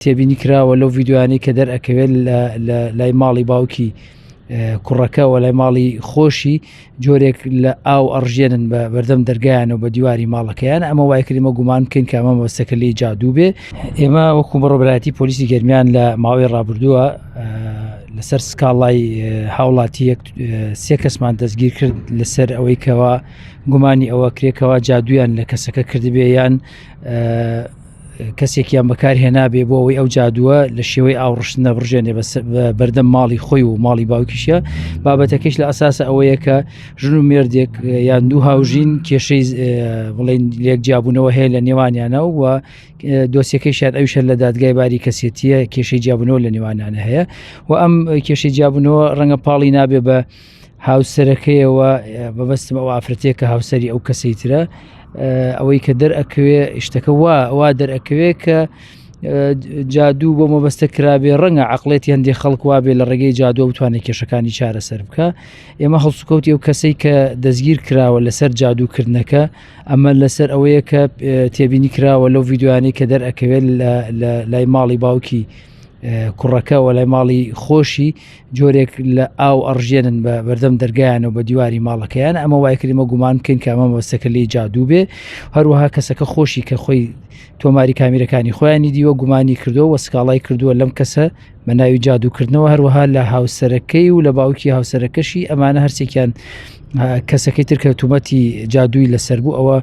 تێبینی کراوە لەو ڤیددیوانەی کە دەرئەکەوێت لای ماڵی باوکی کوڕەکە وە لای ماڵی خۆشی جۆرێک لە ئاو ئەڕژێنن بە بەردەم دەرگیان و بە دیواری ماڵەکەیان ئەمە وای کردمە گومان بکەین کە ئەمە وەسەکە لی جادوو بێ ئێمە وەکو بەڕۆبراتی پۆلیسی گەرمیان لە ماوەی ڕابردووە لەسەر سکاڵای هاوڵاتی سێ کەسمان دەستگیر کرد لەسەر ئەوەی کەەوە گومانی ئەوە کرێکەوە جادویان لە کەسەکە کردبێ یان کەسێکیان بەکارهێنابێ بۆ ئەوەی ئەو جادووە لە شێوەی ئاوڕشت نەبڕژێنێ بەردەم ماڵی خۆی و ماڵی باوکیشە بابەتەکەش لە ئەساسە ئەوەیە کە ژن و مێردێک یان دوو هاوژین کێشەی بڵێن لێک جیاببوونەوە هەیە لە نێوانیانە و دۆسیەکەی شاد ئەو شەر لە دادگای باری کەسێتیە کێشەی جیاببوونەوە لە نێوانانە هەیە و ئەم کێشەی جیاببوونەوە ڕەنگە پاڵی نابێ بە هاوسەرەکەیەوە بەبستم ئەو ئافرەتەیە کە هاوسری ئەو کەسی ترە ئەوەی کە دەرئەکەوێ شتەکە وا وا دەرئەکەوێ کە جادوو بۆ مەبەستە کرابێ ڕەنگە عقلێت هەندێ خەڵک وابێ لە ڕێگەی جادو بتوانێت کێشەکانی چارەسەر بکە ئێمە هەڵسوکەوتی ئەو کەسی کە دەستگیر کراوە لەسەر جادووکردنەکە ئەمە لەسەر ئەوەیە کە تێبینی کراوە لەو یددیوانی کە دەرئەکەوێت لای ماڵی باوکی کوڕەکە وەلای ماڵی خۆشی جۆرێک لە ئاو ئەڕژێنن بە بەردەم دەرگیان و بە دیواری ماڵەکەیان ئەمە وای کردمە گومان بکەین کە ئەمە مەسەکە لی جادوو بێ هەروەها کەسەکە خۆشی کە خۆی تۆماری کامیرەکانی خۆیانی دیوە گومانی کردو وە سکاڵای کردووە لەم کەسە بە ناوی جادووکردنەوە هەروەها لە هاوسەرەکەی و لە باوکی هاوسەرەکەشی ئەمانە هەرسێکیان کەسەکەی ترکە تومەتی جادووی لەسەر بوو ئەوە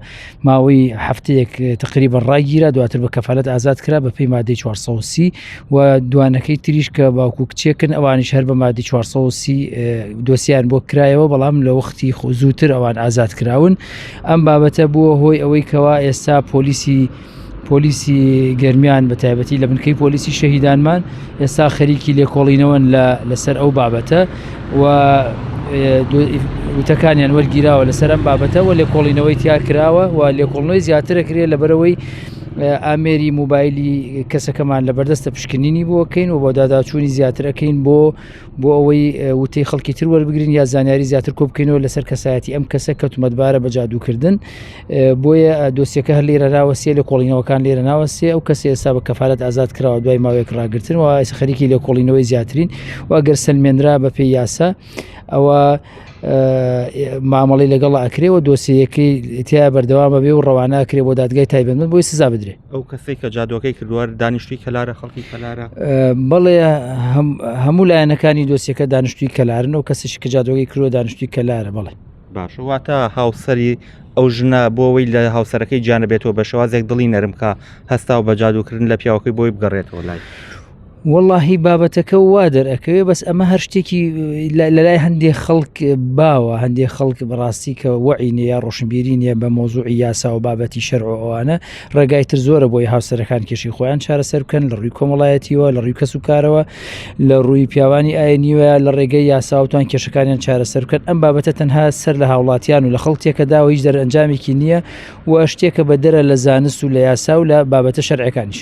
ماوەی هەفتەیەک تقری بە ڕاگیرا دواتر بە کەفاەت ئازاد کرا بە پێی مادەی 430 و دوانەکەی تریش کە باوکو کچێکن ئەوانیش هەر بە مادی 430 دۆسیان بۆ کرایەوە بەڵام لە وەختی خۆزووتر ئەوان ئازاد کراون ئەم بابەتە بووە هۆی ئەوەی کەوا ئێستا پۆلیسی پۆلیسی گەرمیان بە تایبەتی لە بنکەی پۆلیسی شەهیدانمان ئێستا خەریکی لێکۆڵینەوەن لەسەر ئەو بابەتە و وتەکانیان وەرگیراوە لەسەر ئەم بابەتە و لێکۆڵینەوەی تیا کراوە و لێکۆڵنەوەی زیاترە کرێ لە بەرەوەی ئامێری موبایلی کەسەکەمان لە بەردەستە پشکنینی بۆکەین و بۆ داداچووی زیاترەکەین بۆ بۆ ئەوەی وتەی خەڵکی تر وەربگرین یا زانیاری زیاتر کۆ بکەینەوە لەسەر کەسایەتی ئەم کەسە کە تومەتبارە بە جادووکردن بۆیە دۆسیەکە هەر لێرە ناوەسیە لە کۆڵینەوەکان لێرە ناوەسێ ئەو کەسی ئێستا بە کەفاالت ئازاد کراوە دوای ماوەیەک ڕاگرتن و ئێستا خەریکی لە کۆڵینەوەی زیاترین و ئەگەر سلمێنرا بە پێی یاسا ئەوە مامەڵی لەگەڵ ئەکرێەوە دۆسیەکەی تیا بەردەوامە بێ و ڕەوانە کرێ بۆ دادگای تایبەت بۆی سزا بدرێت ئەو کەسێک کە جادوەکەی کردوار دانیشتوی کەلارە خەڵکی کەلارە بەڵێ هەموو لایەنەکانی دۆسیەکە دانیشتوی کەلارن و کەسیش کە جادوەکەی کرۆ دانیشتوی کەلارە بڵێ باش واتە هاوسری ئەو ژنە بۆەوەی لە هاوسەرەکەی جانەبێتەوە بە شێوازێک دڵی نەرمکە هەستا و بە جادوکردن لە پیاوەکەی بۆی بگەڕێتەوە لای وەڵاهی بابەتەکە وا دەرەکەوێ بەس ئەمە هەر شتێکی لەلای هەندێ خەڵک باوە هەندێ خەڵک بەڕاستی کە وەعی نیە ڕۆشنبیری نیە بە مۆزوعی یاسا و بابەتی شەرۆ ئەوانە ڕێگای تر زۆرە بۆی هاوسەرەکان کێشی خۆیان چارەسەر بکەن لە ڕووی کۆمەڵایەتیەوە لە ڕووی کەس و کارەوە لە ڕووی پیاوانی ئاینیوە لە ڕێگەی یاساوتان کێشەکانیان چارەسەر بکەن ئەم بابەتە تەنها سەر لە هاوڵاتیان و لە خەڵکێکەدا و هیچ دەرەنجامێکی نییە و شتێکە بە دەرە لە زانست و لە یاسا و لە بابەتە شەرعەکانیش.